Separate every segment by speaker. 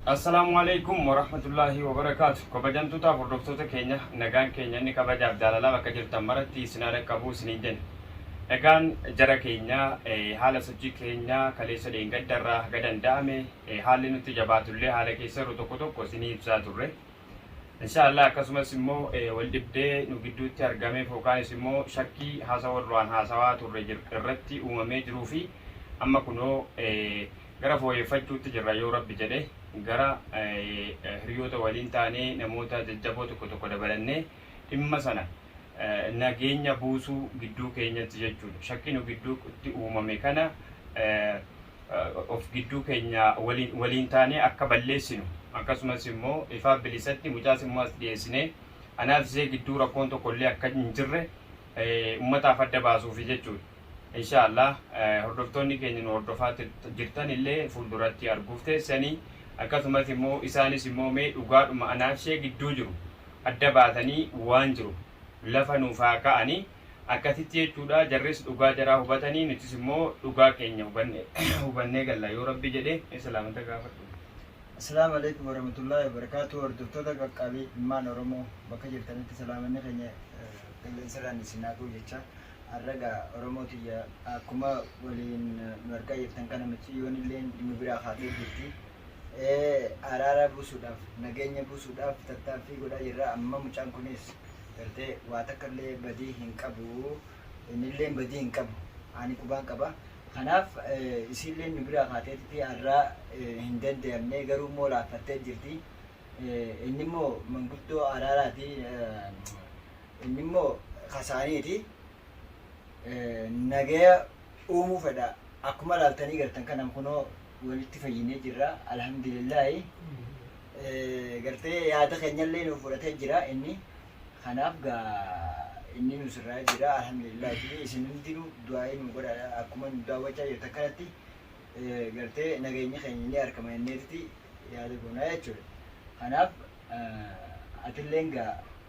Speaker 1: Assalaamu Aleeykum Warahmatullaahi Wabarakaatu Kabajamtootaaf Hordoftoota keenya nagaan keenya inni kabajaaf jaalalaa bakka jirtan maratti isin haa dhaqqabu isiniin jenna. Egaan jara keenya haala sochii keenya kaleessa dheengadda irraa haga danda'ame haalli nutti jabaatullee haala keessa yeroo tokko tokko isinii ibsaa turre. Inshaallah akkasumas immoo wal dhibdee nu gidduutti argameef yookaanis immoo shakkii haasawa duraan haasawaa turre irratti uumamee jiruu fi amma kunoo Gara fooyeffachuutti jirra yoo Rabbi jedhe. Gara hiriyoota waliin taanee namoota jajjaboo tokko tokko dabalannee dhimma sana nageenya buusuu gidduu keenyatti jechuudha. Shakkii nu gidduutti uumame kana of gidduu keenya waliin taanee akka balleessinu akkasumas immoo ifaa bilisatti mucaas immoo as dhiyeessinee anaaf ishee gidduu rakkoon tokko illee akka hin jirre ummataaf adda baasuufi jechuudha. Inshaa Allah hordoftoonni keenya nu hordofaa jirtan illee fuulduratti arguuf teessanii akkasumas immoo isaanis immoo mee dhugaadhuma anaaf ishee gidduu jiru adda baatanii waan jiru lafa nuuf haa ka'anii akkasitti jechuudha jarris dhugaa jaraa hubatanii nutis immoo dhugaa keenya hubanne hubannee galla yoo rabbi jedhe islaamata gaafadhu. Assalaamu
Speaker 2: alaikum warahmatullahi wabarakatuh hordoftoota qaqqaabii ilmaan Oromoo bakka jirtanitti salaamanni keenya qilleensarraan isin haa ga'u jechaa Arra gaa Oromoo tiyya akkuma waliin nu argaa jirtan kana miciyyoon illee nu biraa kaatee jirti. Araara buusuudhaaf nageenya buusuudhaaf tattaaffii godhaa jirra. Amma mucaan kunis gartee waa takka illee badii hin qabu. Innillee badii hin qabu. Ani qubaan qaba. Kanaaf isiillee nu biraa kaateetti arra hin danda'amne garuu immoo laaffattee jirti. Inni immoo manguddoo araaraati. Inni immoo kasaaniiti nagaya uumuu fedha. Akkuma ilaaltanii gartan kana kunoo walitti fayyinee jirra. Alhamdulillaahi gartee yaada keenyallee nuuf fudhatee jira inni. Kanaaf gaa inni nu sirraa jira. Alhamdulillaahi isin hundinuu du'aa'ii nu godha akkuma nu daawwachaa jirtan kanatti gartee nageenyi keenya ni argama jenneeti yaada goonaa jechuudha. Kanaaf atilleen gaa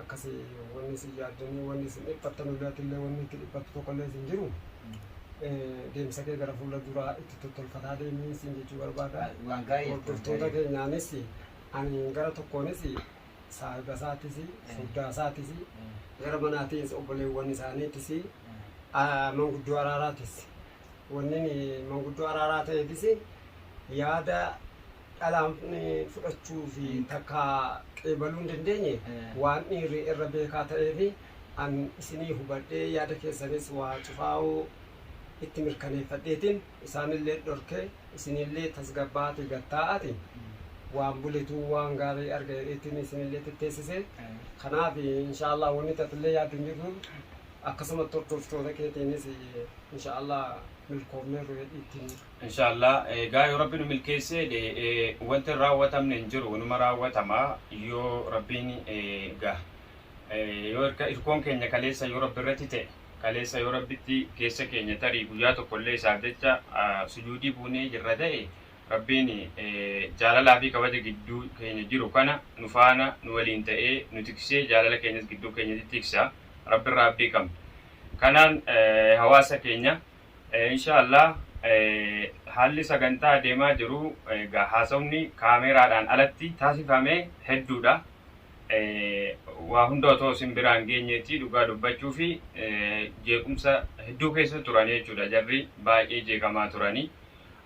Speaker 3: akkasi wanni isin yaaddanii wanni isin dhiphattan illee ati illee wanni itti dhiphattu tokko illee isin jiru deemsa kee gara fuula duraa itti tottolfataa deemii isin jechuu barbaada. Waan gaarii jechuudha. Hordoftoota keenyaanis ani gara tokkoonis saahiba isaatis furdaa isaatis gara manaatis obboleewwan isaaniitis ah, manguddoo araaraatis wanni manguddoo araaraa ta'eefis yaada dhalaan fudhachuu fi takka qeebaluu hin dandeenye waan dhiirri irra beekaa ta'ee fi an isinii hubadhee yaada keessanis waa cufaa'uu itti mirkaneeffadheetiin isaanillee dhorkee isinillee tasgabbaa'aati gattaa'aati waan buletuu waan gaarii arga jedheetiin isinillee tetteessise kanaaf inshaallah wanni tatillee yaaddu hin jirru akkasumatti hordoftoota keetiinis inshaallah milkoofneerru jedhiittiin Inshallah
Speaker 1: egaa yoo rabbi nu milkeesse wanti hin raawwatamne hin jiru numa raawwatama yoo rabbiin egaa yoo irka irkoon keenya kaleessa yoo rabbi irratti ta'e kaleessa yoo rabbitti keessa keenya tarii guyyaa tokko illee isaaf jecha sujuudii buunee jirra ta'e rabbiin jaalalaa fi kabaja gidduu keenya jiru kana nu faana nu waliin ta'ee nu tiksee jaalala keenyas gidduu keenyatti tiksa rabbi irraa abdii qabna kanaan hawaasa keenya Inshaa Allah haalli sagantaa deemaa jiru egaa haasofni kaameeraadhaan alatti taasifame hedduudha. Waa hunda otoo isin biraan geenyeetii dhugaa dubbachuufi jeequmsa hedduu keessa turanii jechuudha jarri baay'ee jeeqamaa turanii.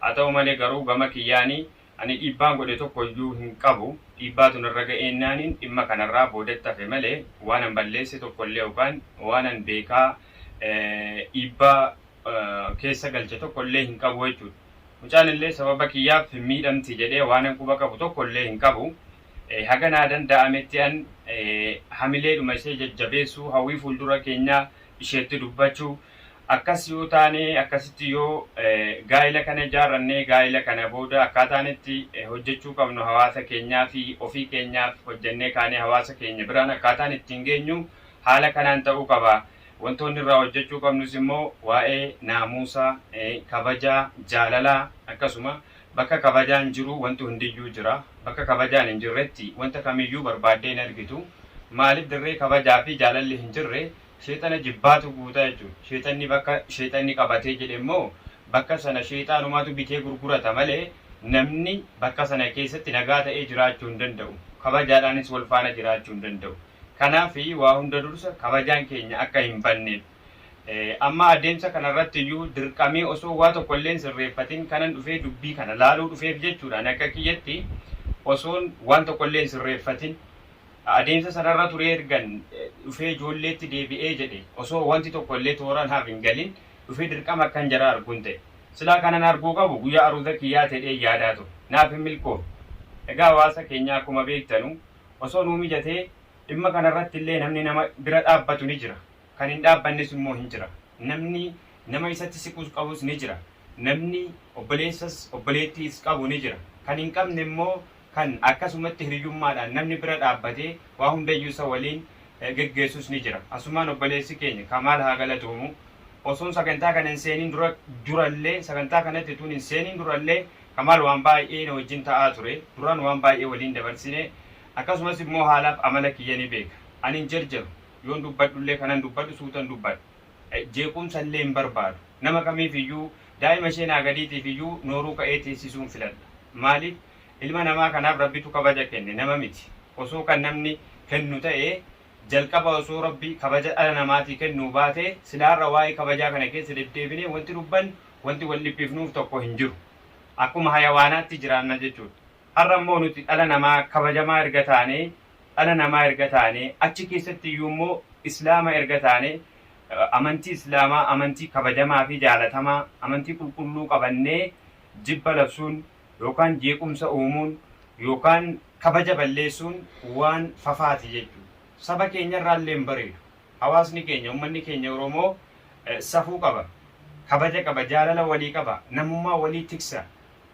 Speaker 1: Haa ta'u malee garuu gama kiyyaanii Ani dhiibbaan godhe tokko iyyuu hin qabu, dhiibbaatu narra ga'eennaanin dhimma kanarraa boodatti hafe malee waanan balleesse tokko illee yookaan waanan beekaa dhiibbaa keessa galche tokko illee hin qabu jechuu dha. Mucaan illee sababa kiyyaaf hin miidhamti jedhee waanan quba qabu tokko illee hin qabu. Haga naa danda'ametti an hamileedhuma ishee jajjabeessuu, hawwii fuuldura keenyaa isheetti dubbachuu, Akkas yoo taane, akkasitti yoo gaa'ila kana ijaarranne, gaa'ila kana booda akkaataan itti hojjechuu qabnu hawaasa keenyaafi ofii keenyaaf hojjennee kaanee hawaasa keenya biraan akkaataan ittiin geenyu haala kanaan ta'uu qaba. Wantoonni irraa hojjechuu qabnus immoo waa'ee naamuusa, kabaja, jaalalaa akkasuma bakka kabajaan jiru wanti hundiyyuu jira. Bakka kabajaan hin jirretti wanta kamiyyuu barbaaddee hin argitu. Maaliif dirree kabajaafi jaalalli hin jirre Sheexana jibbaatu guuta jechuudha. Sheexanni bakka sheexanni qabatee jedhe immoo bakka sana sheexaanumaatu bitee gurgurata malee namni bakka sana keessatti nagaa ta'ee jiraachuu hin danda'u. Kabajaadhaanis wal faana jiraachuu hin danda'u. Kanaafi waa hunda dursa kabajaan keenya akka hin banneef. Amma adeemsa kana irratti iyyuu dirqamee osoo waa tokko illee hin sirreeffatin kanan dhufee dubbii kana laaluu dhufeef jechuudha. Ani akka kiyyatti osoon waan tokko illee hin sirreeffatin Adeemsa sanarra turee ergan dhufee ijoolleetti deebi'ee jedhe osoo wanti tokko illee toora naaf hin galin dhufee dirqama akkan jara argun ta'e. Silaa kanan arguu qabu guyyaa aruuza kiyyaa tedheen yaadaa ture. Naaf hin milkoofne. Egaa hawaasa keenyaa akkuma beektanu osoo nuu mijatee dhimma kanarratti illee namni nama bira dhaabbatu ni jira. Kan hin dhaabbannes immoo hin jira. Namni nama isatti siqus qabus ni jira. Namni obboleessas obboleettiis qabu ni jira. Kan hin qabne immoo kan akkasumatti hiriyyummaadhaan namni bira dhaabbatee waa hundayyuu isa waliin geggeessus ni jira. Asumaan obboleessi keenya Kamaal haa galatoomu. Osoon sagantaa kana hin seeniin dura durallee sagantaa kanatti utuun hin seeniin durallee Kamaal waan baay'ee na wajjin ta'aa ture. Duraan waan baay'ee waliin dabarsine. Akkasumas immoo haalaaf amala kiyya ni beeka. Ani hin jarjaru. Yoon dubbadhullee kanan dubbadhu suutan dubbadha. Jeequmsallee hin barbaadu. Nama kamiifiyyuu daa'ima ishee naa gadiitiifiyyuu nooruu ka'ee teessisuun filadha. Maaliif? Ilma namaa kanaaf Rabbitu kabaja kenne, nama miti. Osoo kan namni kennu ta'ee, jalqaba osoo Rabbi kabaja dhala namaatii kennuu baatee, silaa har'a waa'ee kabajaa kana keessa deddeebinee wanti dubbannu, wanti wal dhiphifnuuf tokko hin jiru. Akkuma hayawaanaatti jiraanna jechuudha. Har'a immoo nuti dhala namaa kabajamaa erga taanee, dhala namaa erga taanee, achi keessatti iyyuu immoo Islaama erga taanee, amantii Islaamaa, amantii kabajamaa fi jaalatamaa, amantii qulqulluu qabannee jibba labsuun, yookaan jeequmsa uumuun yookaan kabaja balleessuun waan fafaati jechuudha. Saba keenyarraa illee hin bareedu. Hawaasni keenya, ummanni keenya Oromoo safuu qaba, kabaja qaba, jaalala walii qaba, namummaa walii tiksa,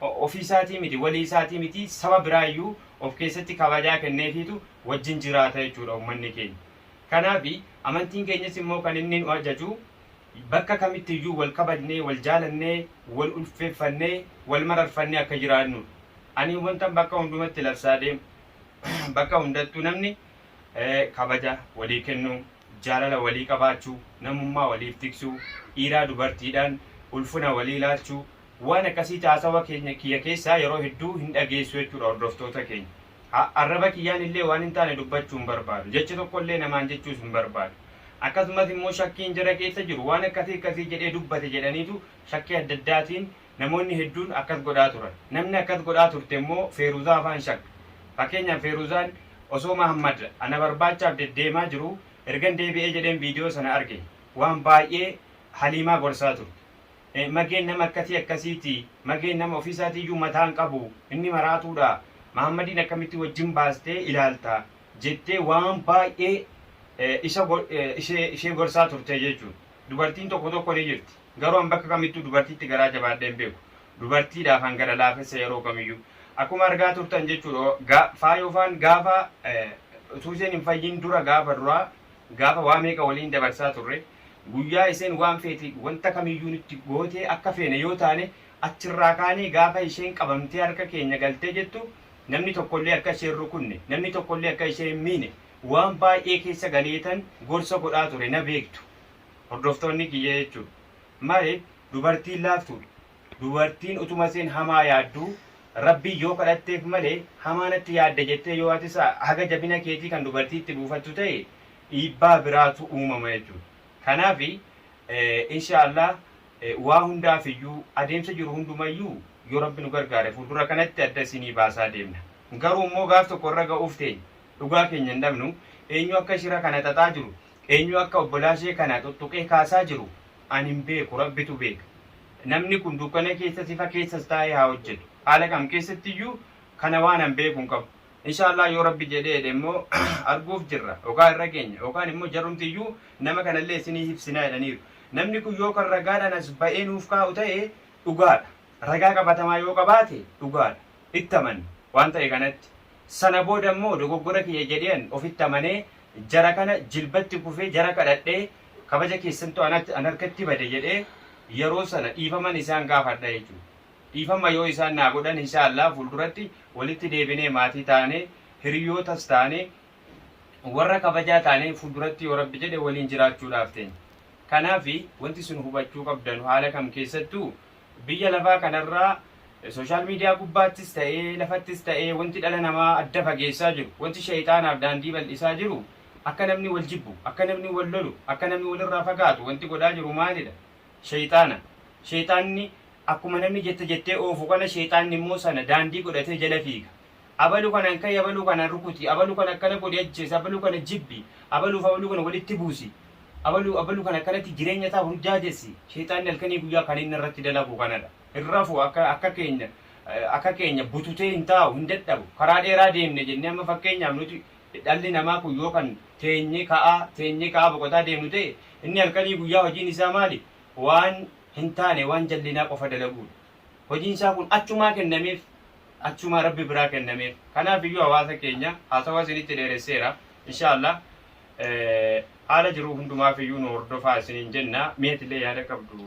Speaker 1: ofii isaatii miti, walii isaatii miti, saba biraa iyyuu of keessatti kabajaa kenneefiitu wajjin jiraata jechuudha ummanni keenya. Kanaafi, amantiin keenyas immoo kan inni nu ajaju, Bakka kamitti iyyuu wal kabajnee, wal jaalannee, wal ulfeeffannee, wal mararfannee akka jiraannu dha. Ani wantan bakka hundumatti labsaa deemu, bakka hundattuu namni kabaja walii kennuu, jaalala walii qabaachuu, namummaa waliif tiksuu, dhiiraa dubartiidhaan ulfina walii laalchuu, waan akkasii caasawa keenya kiyya keessaa yeroo hedduu hin dhageessu jechuu dha hordoftoota keenya. A. Arraba kiyyaan illee waan hin taane dubbachuu hin barbaadu. Jecha tokko illee namaan jechuus hin barbaadu. Akkasumas immoo shakkiin jara keessa jiru waan akkasii akkasii jedhee dubbate jedhaniitu shakkii adda addaatiin namoonni hedduun akkas godhaa turan. Namni akkas godhaa turte immoo Feeruzaa faa hin shakka. Fakkeenyaaf Feeruzaan osoo Mahaammad ana barbaachaaf deddeemaa jiruu ergan deebi'ee jedheen viidiyoo sana arge. Waan baay'ee Haliimaa gorsaa turte. Mageen nama akkatii akkasiiti. Mageen nama ofii isaatii iyyuu mataa hin qabu. Inni maraatuu dha. Mahaammadiin akkamitti wajjin baastee ilaalta? jettee waan baay'ee isa ishee gorsaa turte jechuudha. Dubartiin tokko tokko ni jirti. Garuu an bakka kamittuu dubartiitti garaa jabaadhee hin beeku. Dubartiidhaaf an gara laafessa yeroo kamiyyuu. Akkuma argaa turtan jechuudha. Faayoofaan gaafa utuu isheen hin fayyin dura gaafa duraa gaafa waa meeqa waliin dabarsaa turre, guyyaa isheen waan feete wanta kamiyyuu nutti gootee akka feene yoo taane achirraa kaanee gaafa isheen qabamtee harka keenya galtee jettu namni tokkollee akka ishee hin rukunne, namni tokkollee akka ishee hin miine waan baay'ee keessa galeetan gorsa godhaa ture na beektu hordoftoonni kiyya jechuudha. Mare dubartiin laaftuudha. Dubartiin utuma isheen hamaa yaadduu Rabbiin yoo kadhatteef malee hamaa natti yaadda jettee yoo atis haga jabina keetii kan dubartii itti buufattu ta'e dhiibbaa biraatu uumama jechuudha. Kanaafi, inshaa Allaah, waa hundaafiyyuu, adeemsa jiru hundumayyuu yoo Rabbi nu gargaare fuuldura kanatti adda isinii baasaa deemna. Garuu immoo gaaf tokko irra ga'uuf teenya dhugaa keenya hin dhabnu. Eenyu akka shira kana xaxaa jiru, eenyu akka obbolaa ishee kana xuxxuqee kaasaa jiru, Ani hin beeku, Rabbitu beeka. Namni kun dukkana keessas ifa keessas taa'ee haa hojjetu. Haala kam keessatti iyyuu kana waan an beeku hin qabu. Inshaa Allaah yoo Rabbi jedhee jedhe immoo arguuf jirra. Yookaan irra geenya. Yookaan immoo jarumti iyyuu nama kana illee isinii hibsina jedhaniiru. Namni kun yoo kan ragaadhaan as ba'ee nuuf kaa'u ta'e dhugaadha. Ragaa qabatamaa yoo qabaate dhugaadha. Itti amanna waan ta'e kanatti. Sana booda immoo dogoggora kiyya jedheen ofitti amanee Jara kana jilbatti kufee jara kadhadhe, kabaja keessantu anatti, an harkatti bade jedhee yeroo sana dhiifaman isaan gaafadha jechuudha. Dhiifama yoo isaan naa godhan inshaa Allaah fuulduratti walitti deebinee maatii taanee, hiriyootas taanee, warra kabajaa taanee fuulduratti yoo Rabbi jedhe waliin jiraachuudhaaf teenya. Kanaafi wanti isin hubachuu qabdanu haala kam keessattuu Biyya lafaa kanarraa social media gubbaattis ta'ee lafattis ta'ee wanti dhala namaa adda fageessaa jiru, wanti sheyxaanaaf daandii bal'isaa jiru akka namni wal jibbu, akka namni wal lolu, akka namni walirraa fagaatu wanti godhaa jiru maalidha? Sheyxaana. Sheyxaanni akkuma namni jette jettee oofu kana sheyxaanni immoo sana daandii godhatee jala fiiga. abalu kanan ka'i abalu kana rukuti abalu kana akkana godhi ajjeesi abalu kana jibbi abaluuf abalu kana walitti buusi abalu abalu kana akkanatti jireenya isaa burjaajessi sheexaanni halkanii guyyaa kan inni irratti dalagu kanadha hin rafu akka akka keenya akka keenya bututee hin taa'u hin dadhabu karaa dheeraa deemne jennee amma fakkeenyaaf nuti dhalli namaa kun yoo kan teenye ka'aa teenye ka'aa boqotaa deemnu ta'e inni halkanii guyyaa hojiin isaa maali waan hin taane waan jallinaa qofa dalaguudha hojiin isaa kun achumaa kennameef achumaa rabbi biraa kennameef kanaaf iyyuu hawaasa keenya haasawaa isinitti dheeresseera inshaa allah haala jiruu hundumaaf iyyuu nu hordofaa isiniin jenna mi'atillee yaada qabdu